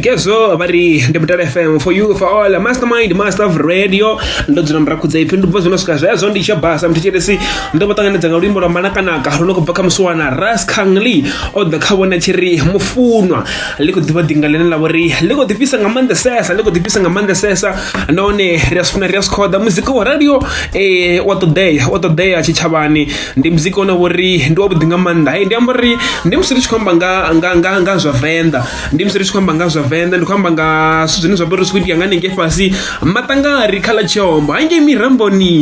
kezo vha ri ndi mutale fm for you for all mastermind master of radio ndo dzula murakhudza ipfi ndi bva zwino swika zwezwo ndi tsha basa mthetshelesi ndo vha ṱanganedza nga luimbo lwa manakanaka lu no khou bva kha musiwana ras kangli o ḓa kha vhona tshi ri mufunwa ḽi khou ḓivha ḓinga ḽine ḽa vhori ḽi khou ḓifhisa nga maanḓesesa ḽi khou ḓifhisa nga maanḓesesa nahone ri a zwi funa ri a zwi khoḓa muzika wa radio um wa ṱoḓea wa ṱoḓea tshitshavhani ndi muzika une vho ri ndi wavhuḓi nga maanḓa hei ndi amba uri ndi musi ri tshi khou amba nga nga nga nga zwa venḓa ndi musi ri tshi khou amba nga zwa venḓa ndi khou amba nga zwithu zwine zwa vha uri zwi khou itea nga hanengei fhasi maṱangari kha ḽa tshiombo hangei miramboni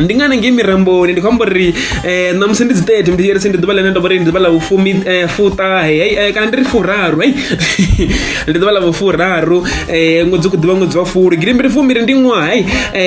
ndi nga hanengei miramboni ndi khou amba uri eh, na musi ndi dzi tete ndi yeri ndi ḓuvha ḽine nda vha uri ndi ḓuvha ḽa vhufumi eh, fuṱahe hei eh, kana ndi ri furaru hei ndi ḓuvha ḽa vhufuraru um ṅwedzi u khou ḓivha ṅwedzi wa fulu girimbiri fumbiri ndi ṅwaha um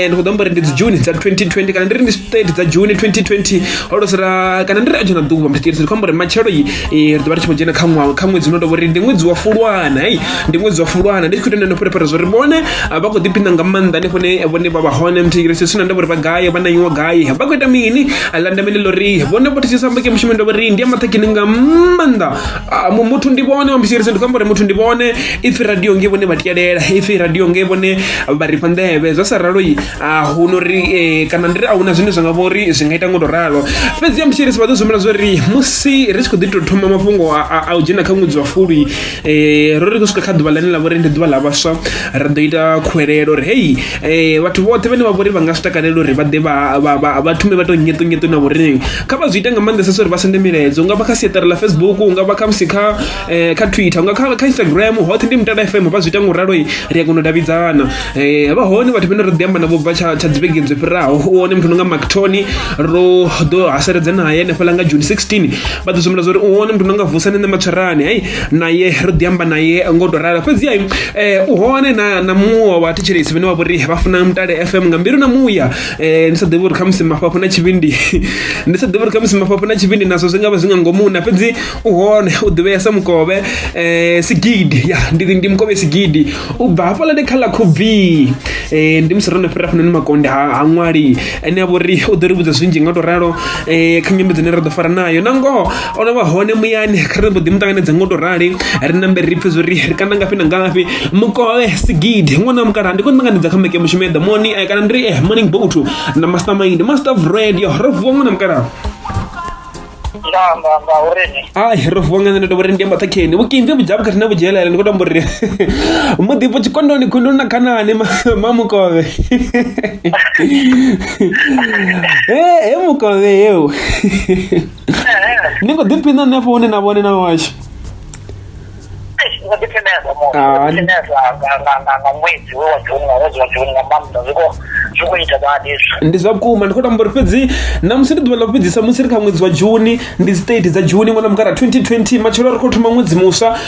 ndi khou ḓo amba uri ndi dzi juni dza 2020 kana ndi ri ndi state dza juni 2020 ho losera kana ndi ri a dzhena ḓuvha mrts ndi khou amba uri matshelo yi eh, ri ḓo vha ri tshi khou dzhena kha ṅwaha kha ṅwedzi uno tovha uri ndi ṅwedzi wa fulwana hei ndi ṅwedzi wa fulwana ndi tshi khou ita neno pherephere zwa uri vhone ah, vha khou ḓiphina nga maanḓa hanefho ne vhone vha vha hone mthigirisi sina ndavha uri vha gaye vha nanyiwa gaye vha khou ita mini landamele ḽo ri vhone vho thetshisamba ke mushumo ndavha uri ndi ya maṱhakhini nga maanḓa Ah, mu- muthu ndi vhone wambisirisa ndi khou amba uri muthu ndi vhone ipfi radio nge vhone vha tikelela ipfi radio nge vhone vha rifha nḓevhe zwa sa raloi a hu no ri eh, kana ndi ri a huna zwine zwa nga vha uri zwi nga ita ngo to ralo fhedzi yambisirisa vha ḓo zwimela zwa uri musi ri tshi khou ḓi tou thoma mafhungo a- a a u dzhena kha ṅwedzi wa fulwi eh, ro ri khou swika kha ḓuvha ḽane ḽa vha uri ndi ḓuvha ḽa vhaswa ra ḓo ita khuwelelo uri hei eh, vhathu vhoṱhe vhane vha vha uri vha nga zwi takalela uri vha ḓe vha- vha- vha vha thume vha tou nyeṱonyeṱo na vhorine kha vha zwi ite nga maanḓesesa uri vha sende milaedza unga vha kha siaṱari ḽa facebook unga vha khamusi kha um kha twitter unga kha instagram hoṱhe ndi mutala fm vha zwi ita nga u raloi ri a kona u davhidzana um vha hone vhathu vhene ro ḓi amba navho bva tsha dzivhege dzo fhiraho u hone muthu no nga mactony ro ḓo haseledza naye hanefhaḽa nga june 16 vha ḓo zwimela zwa uri u hone muthu no nga vusane nṋe matswerani hei naye ro ḓi amba naye ngo tou rala fhedziha um u hone na muṅwe wa vhathetshelesi vhene vha vho ri vha funa mutale fm nga mbilu na muya Eh, ndi sa ḓivhi uri khamusi mafhafhu na tshivhindi ndi sa ḓivhi uri khamusi mafhafhu na tshivhindi nazwo zwi nga vha zwi nga ngomu na fhedzi u hone u ḓivhea sa mukovhe um sigidi ya ndi ndi mukovhe sigidi u bva hafhaḽa ndi kha ḽa khubvi um ndi musi ro no fhira hafhanoni makonde ha ha ṅwali ane a vha uri u ḓo ri vhudza zwinzhi nga u tou ralo um kha nyimbo dzine ra ḓo fara nayo na ngoho o no vha hone muyani kha ri mbo ḓi mu ṱanganedza ngo to rali ri nambe ri pfe zwori ri kana ngafhi na ngafhi mukole sigidi ṅwana mukala ndi khou ṱanganedza kha meke mushumo ya ḓamoni eh, kana ndiri eh, morning boat na master mind master of radio ro vuwa ṅwana mukala nga nga nga uri ni ai ro vuwa nga nṋe ndo vhori ndi amba ṱhakheni vhukimvi vhudzhavhu khathihi na vhudzhelela ndi khou tamba uri muḓipfo tshikondoni khunduni na khanani ma- ma mukove he he mukove yeo ni khou ḓiphina nṋe afho hune na vhone na washu ndi zwa vhukuma ndi khou tamba uri fhedzi na musi ndi ḓuvha ḽa vhufhedzisa musi ri kha ṅwedzi wa juni ndi state dza juni ṅwana mukara 2020 matshelo ri khou thoma ṅwedzi muswa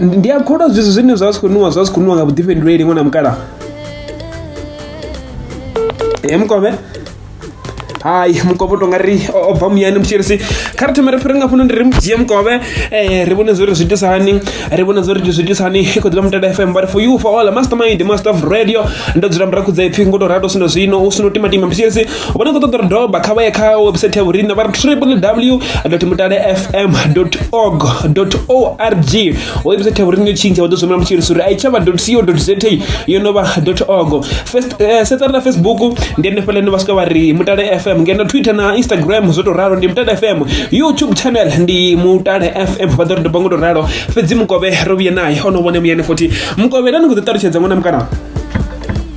ndi a kholwa zwithu zwine zwa si khou nwiwa zwa si khou nwiwa nga vhuḓifhinduleli ṅwana mukalaha e mukovhe hai mukovhe u tonga ri o bva muyani mutshilisi kha ri thome ri fhire nga fhano ndi ri mu dzhie mukovhe um ri vhone zwori zwi itisa hani ri vhone zwori zwi itisa hani i khou ḓivha mutala fm but for you for all master mind master of radio ndo dzula murakhudza ipfhi ngo to rado sino zwino u sino timatima mutshilisi vho no khou ṱoḓa uri doba kha vha ye kha website ya vhorine vha ri www mutale fm org org website ya vhorine yo tshintsha vha ḓo zwimela mutshilisa uri a i tsha vha co za yo no vha org eh, sedzana na facebook ndi henefhala ine vha swika vha ri mutale fm ngeno twitter na instagram zwo tou ralo ndi mutale fm youtube channel ndi mutale fm vha ḓo ri doba ngo tou ralo fhedzi mukovhe ro vhuye naye o no vhone muyani futhi mukovhe na ni khou ḓi ṱalutshedza ṅwana mukana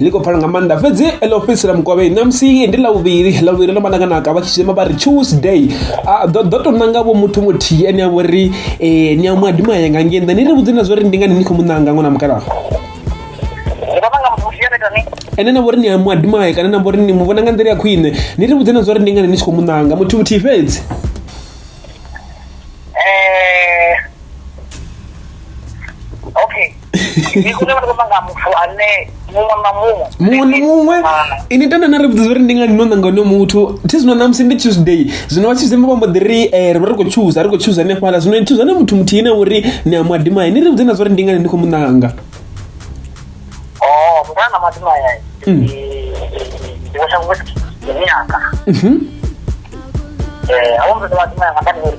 ḽi khou pfala nga maanḓa fhedzi ḽo fhedzisela mukovhei ṋamusi ndi ḽa vhuvhili ḽa vhuvhili ḽo vha nakanaka vha tshi shema vha ri tuesday ḓo ḓo tou nanga vho muthu muthihi ane a vho ri um ni a mu adima yanga ngei nnḓa ni ri vhudze na zwa uri ndi ngani ni khou mu ṋanga ṅwana mukalaha ene na vho ri ni a mu adimaye kana na vho ri ni mu vhona nga nḓila ya khwine ni ri vhudze na zwa uri ndi ngani ni tshi khou mu ṋanga muthu muthihi fhedzi ndi kune vha amba nga muthu ane muṅwe na muṅwe muṅwe na muṅwe ini tenda na ri vhudza uri ndi ngani no nanga no muthu thi zwino na musi ndi tuesday zwino vha tuesday vha mbo ḓi ri eh, ri vha ri khou tshuza ri khou tshuza hanefhala zwino ni thuza na muthu muthihi na uri ni a mwadimai ni ri vhudze na zwa uri ndi ngani ni khou mu nanga o oh, mutana na mwadimaya mm. ndi vhasha vhunga ndi nyaka mhm. eh, a vho muthu mwadimaya nga kani uri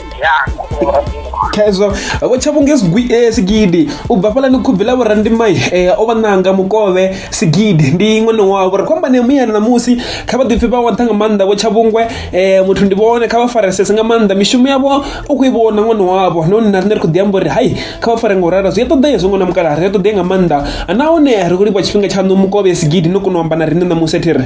khezwo vho tshavhunge eh, sigidi u bva fhalani khubvi ḽa vhurandimai eh, o vha ṋanga mukovhe sigidi ndi iṅwe no wavho ri khou amba ne muyani ṋamusi kha vha ḓipfhi vha wantha nga maanḓa vho tshavhungwe eh, muthu ndi vhone kha vha faresese nga maanḓa mishumo yavho u khou i vhona ṅwana wavho no nna rine ri khou ḓi amba uri hai kha vha fare nga u rara zwi a ṱoḓea hezwo ṅwana mukala ri a ṱoḓea nga maanḓa nahone ri khou livha tshifhinga tshaṋu mukovhe sigidi no kona u amba na rine ṋamusi a thi ri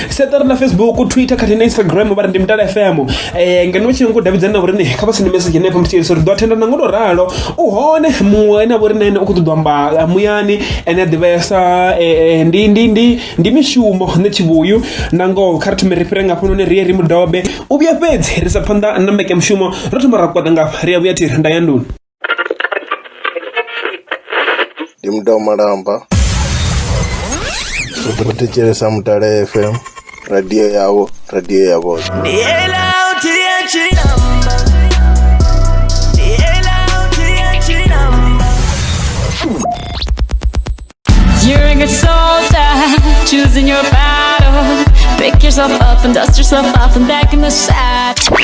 seṱari na facebook twitter khathihi na instagram vha ri ndi mutala fm um ngeno u tshi nyago davhidzana na vhorine kha vha sende message henefho mutsheliso ri ḓo athenda na ngo to ralo u hone muṅwe ene a vhorine ene u khou ṱoḓwa amba muyani ene a ḓivhesa ndi ndi ndi ndi mishumo nṋe tshivhuyu na ngoho kha ri thome ri fhire ngafho none rie ri mudobe u vhuya fhedzi ri sa phanḓa na mbekemushumo ro thoma ra kwaṱa ngafha ri a vhuya thi ri nda ya nduni ndi muthu wa malamba ri thetshelesa mutale fm radio yavho radio ya vhoṱhe You're a good soldier, choosing your battle. Pick yourself up and dust yourself off and back in the saddle.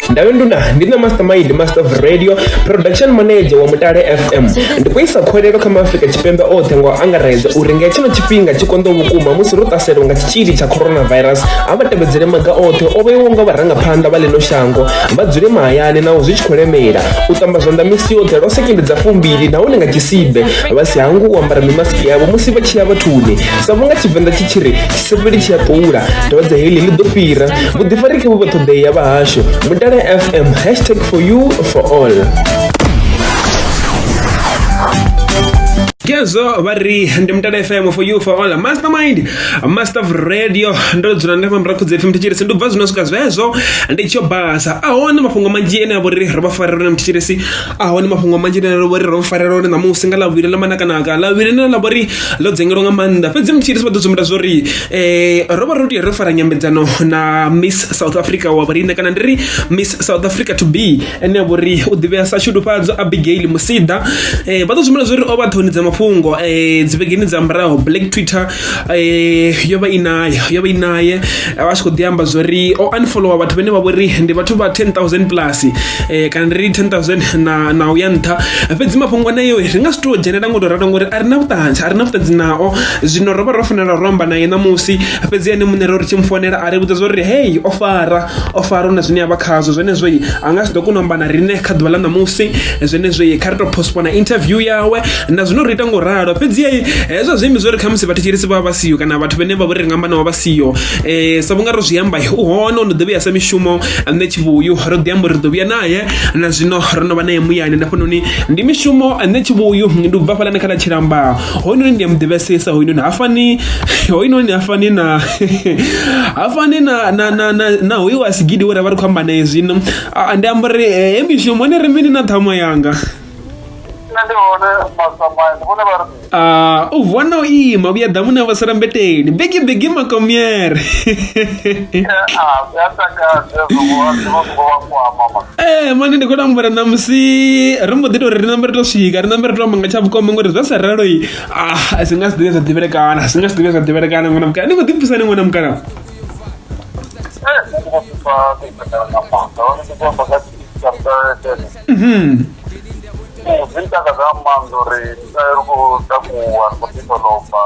ndawe nduna ndi na mastermind master of radio production manager wa mutale fm ndi khou isa khwelelo kha maafrika tshipembe oṱhe nga u angaredza uri nga tshino tshifhinga tshi konḓo vhukuma musi ro ṱaselwa nga tshitzhili tsha coronavirus a vha tevhedzele maga oṱhe o vheiwo nga vharangaphanḓa vha ḽino shango vha dzule mahayani naho zwi tshi khou lemela u ṱamba zwanḓa misi yoṱhe lwa sekende dza fumbili nahone nga tshisibe vha si hangwe u ambara mimasiki yavho musi vha tshi ya vhathuni sa vhunga tshivenḓa tshi tshi ri tshisevheli tshi a ṱula dwadze heḽi ḽi ḓo fhira vhuḓifari khe vhu vha ṱhoḓei ya vhahashu mutale fm hashtag for you for all Kezo vha ri ndi mutale fm for you for all mastermind master of radio ndo dzula ndi mambra khudze fm thetshelesi ndi bva zwino swika zwezwo ndi tsho basa ahone mafhungo manzhi ene avho ri ro vha farela one mthetshelesi ahone mafhungo manzhi ene avho ri ro farela one ṋamusi nga ḽavhili ḽa manakanaka ḽavhili ḽine ḽa vho ri ḽo dzengelwa nga maanḓa fhedzi mthetshelesi vha ḓo sumbedza zwo ri um ro vha ro tea ro fara nyambedzano na miss south africa wa vhoriṋe kana ndi ri miss south africa to be ene vho ri u ḓivhea sa shudufhadzo abigail musida um vha ḓo zwimela zwo ri o vha ṱhoni dza mafhungo um eh, dzivhegeni dza muraho black twitter um yo vha i naye yo vha i naye vha tshi khou ḓi amba zwo ri o unfollowa vhathu vhane vha vho ri ndi vhathu vha 10000 plus um kana ndi ri 10000 na na u ya nṱha fhedzi mafhungo aneyo ri nga si tou dzhenelela ngo tou ralo ngori a ri na vhuṱanzi a ri na vhuṱanzi nao zwino ro vha ro fanela ro amba naye ṋamusi fhedzi ene muṋe ro ri tshi mu fonela a ri vhudza zwo ri hei o fara o faro na zwine a vha khazwo zwenezwo a nga si ḓo kona u amba na riṋe kha ḓuvha ḽa ṋamusi zwenezwo kha ri tou postpona interview yawe na zwino ri ita ngo ralo fhedzi hezwo zwi imbi zwo ri khamusi vhathetshelesi vha vha siho kana vhathu vhane vha vho ri nga amba navho vha siho um sa vhunga ro zwi amba u hone o no ḓo vhuya sa mishumo nṋe tshivhuyu ro ḓi amba uri ri ḓo vhuya naye na zwino ro no vha naye muyani nda fhanoni ndi mishumo nṋe tshivhuyu ndi u bva fhalani kha ḽa tshilamba hoyunoni ndi a mu ḓivhesesa hoyunoni ha fani hoyunoni ha fani na ha fani na na na na na hoyu wa sigidi we ra vha ri khou amba naye zwino Ah, ndi amba uri eh, he mishumo hone ri mini na ṱhama yanga nṋe ndi hone masamaya ndi vhone vha ri Ah, u vuwa na u ima vhuya ḓamuni a vhasala mbeteni bigi bigi makomiere ee eh, mani ndi khou tambula namusi ri mbo ḓi tou ri ri nambe ri to swika ri nambe ri to amba nga tsha vhukoma ngori zwa sa raloi ah si nga si ḓivhe zwa ḓivhelekana si nga si ḓivhe zwa ḓivhelekana ṅwana mukana ni khou ḓipfisa ni ṅwana mukana Mhm. Eh, zwi ntaka nga maanḓa uri eh, ri khou takuwa ri khou ḓikolomba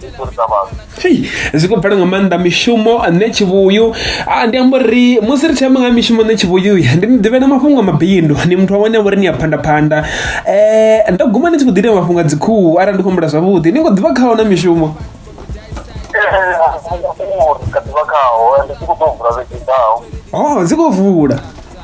ri khou ita vhathu Hei, zwi khou bvela nga maanḓa mishumo nṋe tshivhuyu Ah, ndi amba uri musi ri tshi amba nga ha mishumo nṋe tshivhuyu ndi ni ḓivhela mafhungo a mabindu ndi muthu wa wane vhori ni a phandaphanda um ndo guma ni tshi khou ḓi ita mafhungo a dzikhuhu arali ndi khou humbula zwavhuḓi ni khou ḓivha khaho na mishumo uri kha ḓivha khaho ende tshi khou ḓo vula vhege ḓaho o dzi khou vula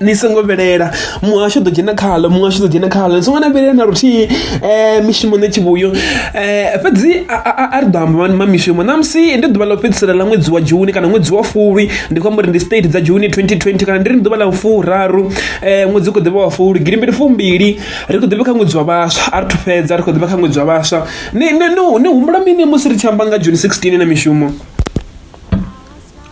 ni songo vhilela muhasho ḓo dzhena khaḽo muhasho ḓo dzhena khaḽo ni songo na vhilela na luthihi um mishumo nṋe tshivhuyo um eh, fhedzi a ri ḓo amba ma mishumo ṋamusi ndi ḓuvha ḽa u fhedzisela ḽa ṅwedzi wa juni kana ṅwedzi wa fulwi ndi khou amba uri ndi state dza juni 2020 kana ndi ri ndi ḓuvha ḽa furaru um ṅwedzi u khou ḓivha wa fulwi gilimbili fumbili ri khou ḓivha kha ṅwedzi wa vhaswa a ri thu fhedza ri khou ḓivha kha ṅwedzi wa vhaswa ni humbula mini musi ri tshi amba nga juni 16 na mishumo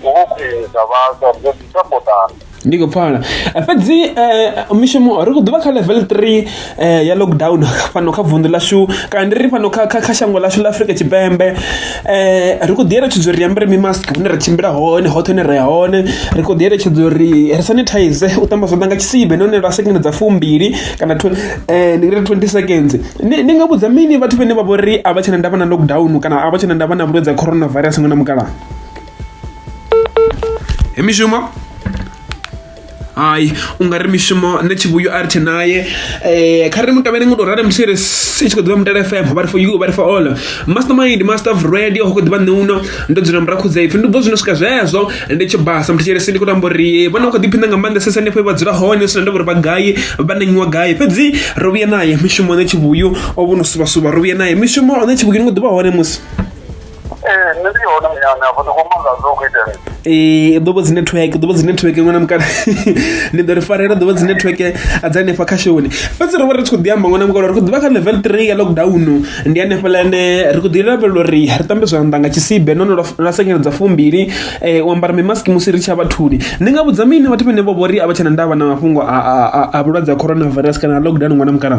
Ndi khou khwinisa vhaswa ri ḓo ḓi sapotana. ndi khou pfala Eh, fhedzi um mishumo ri khou ḓivha kha level 3 eh, ya lockdown fhano kha vunḓu ḽashu kana ndi ri fhano kha, kha, kha shango ḽashu ḽa afrika tshipembe um ri khou ḓi eletshedzwa uri ri ambare mimask hune ra tshimbila hone hoṱhe hune ra ya hone ri khou ḓi eletshedzwa uri ri sanitize u ṱamba zwanḓa nga tshisibe nahone lwa sekende dza fumbili kana tw- eh, ndi ngari 20 seconds ni ni nga vhudza mini vhathu vhane vha vho ri a vha tshena ndavha na lockdown kana a vha tshena ndavha na vhulwadze ha coronavirus nga na mukalaha He mishumo hai u nga ri mishumo nṋe tshivhuyo a ri tshe naye um kha ri mutevhele ngo tou rali musi ri si tshi khou ḓivha mutale fm vha ri for you vha ri for all master mind master of radio ho khou ḓivha nṋe uno ndo dzula murahu khudza ipfhi ndi bvo zwino swika zwezwo ndi tshi basa muthu tshelesi ndi khou tamba uri vhone vha khou ḓiphina nga maanḓa sesa hanefho vha dzula hone sina ndavha uri vha gai vha nangiwa gai fhedzi ro vhuya naye mishumo nṋe tshivhuyu o vho no suvhasuvha ro vhuya naye mishumo nṋe tshivhuyu ni khou ḓivha hone musi nṋe ndi hone muyani afho ndi khou manga zwo khou itea ee ḓuvha dzi network ḓuvha dzi network ṅwana mukala ni ḓo ri farela ḓuvha dzi network dza hanefha kha shoni fhedzi ro vha ri tshi khou ḓi amba ṅwana mukala ri khou ḓivha kha level three ya lockdown ndi hanefha lane ri khou ḓi lavhelela uri ri tambe zwanḓa nga tshisibe nahone lwa senyeledza fumbili um u ambara mimaski musi ri tshi ya vhathuni ndi nga vhudza mini vhathu vhane vho vho ri a vha tshena ndavha na mafhungo a vhulwadze ha coronavirus kana lockdown ṅwana mukala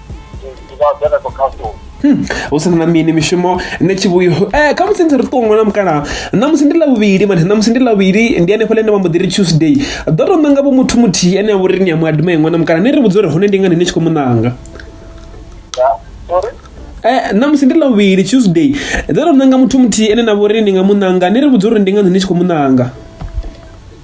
ndi nga dzhena ko khasoni Hmm, hu si na mini mishumo nṋe tshivhuyo eh, kha musi ndi ri ṱuṅwe na mukalaha ṋamusi ndi ḽavhuvhili mane ṋamusi ndi ḽavhuvhili ndi hanefho ḽe nda vha mbo ḓi ri tuesday ḓo tou ṋanga vho muthu muthihi ane a vha uri ni a mu adima iṅwe na mukalaha ni ri vhudza uri hone ndi ngani ni tshi khou mu ṋanga ya sorry Eh, ṋamusi ndi ḽavhuvhili tuesday ḓo tou ṋanga muthu muthihi ane na vha uri ni nga mu ṋanga ni ri vhudza uri ndi ngani ni tshi khou mu ṋanga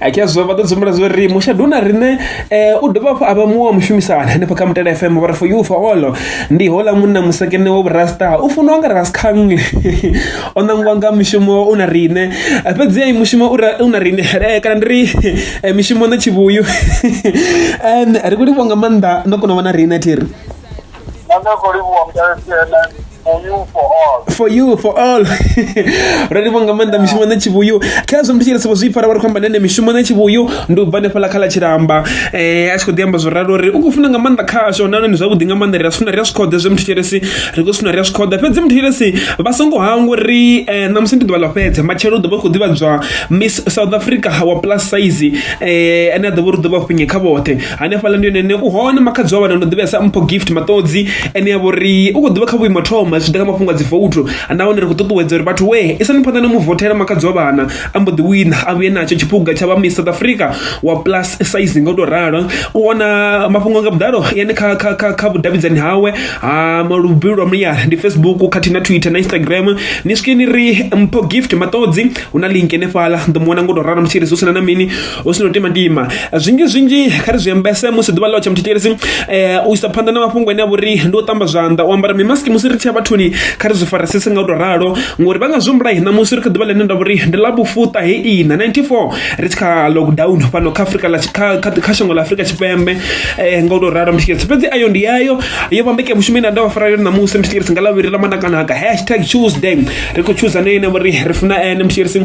a ke zwo vha ḓo dzumbula zwo ri mushadu na riṋe um u dovha hafhu a vha muṅwe wa mushumisani hanefha kha mutala fm vha ri for you for all ndi hola munna musekene wo vhurasta u funiwa nga raskangle o ṋangiwa nga mushumo u na riṋe fhedzi ai mushumo u na riṋe eh, kana ndi ri eh, mishumo na tshivhuyu ri khou livhwa nga maanḓa no kona u vha na riṋe thiri for you for all ralivo nga maanḓa mishumo na tshivhuyu kha zwo mutshile sivho zwi fara vha ri khou amba nene mishumo na tshivhuyu ndi u bva nefhala kha ḽa tshilamba um eh, a tshi khou ḓi amba zwo ralo uri u khou funa nga maanḓa khasho nahone ndi zwavhuḓi nga maanḓa ri a funa ri a zwi khoḓe zwe muthu tshiresi ri khou funa ri a zwi khoḓa fhedzi muthu tshiresi vha songo hangwa uri um eh, ṋamusi ndi ḓuvha ḽa fhedza matshelo u ḓo vha khou ḓivhadzwa miss south africa wa plus size um ane a ḓo vha uri ḓo vha fhinye kha vhoṱhe hanefhaḽa ndi hone u hone makhadzi wa vhana ndo ḓivhesa mpho gift maṱodzi ene ya vhori u khou ḓivha kha vhuimo thoma zwi ḓa kha mafhungo a dzi vouthu nahone ri khou ṱuṱuwedza uri vhathu we isani phanḓa na mu vothela makhadzi wa vhana a mbo ḓi wina a vhuye natsho tshiphuga tsha vha miss south africa wa plus size nga u tou ralo u wana mafhungo nga vhuḓalo yani kha kha kha kha vhudavhidzani hawe ha maluvhilo lwa muyani ndi facebook khathihi na twitter na instagram ni swike ni ri mpho gift maṱodzi hu na link henefhaḽa ndo mu wana nga u tou ralo mutshirisi hu sina na mini hu si no timatima zwinzhi zwinzhi kha ri zwi ambese musi ḓuvha ḽo tsha muthetshelesi um eh, u isa phanḓa na mafhungo ane a vhori ndi u ṱamba zwanḓa u ambara mimaski musi ri tshia vhathuni kha ri zwi farisese nga u tou ralo ngori vha nga zwi humbula hina musi ri kha ḓuvha ḽine nda vhori ndi ḽa vhufuṱa he ina 94 ri tshi kha lockdown fhano kha afrika kha shango ḽa afrika tshipembe um nga u tou ralo muthetshelesi fhedzi ayo ndi yayo yo vhambekea mushumo ine nda vha fara yone ṋamusi muthetshelesi nga ḽavhiri ḽa manakanaka hashtag tuesday ri khou choosa ne ine vhori ri funa ene muthetshelesi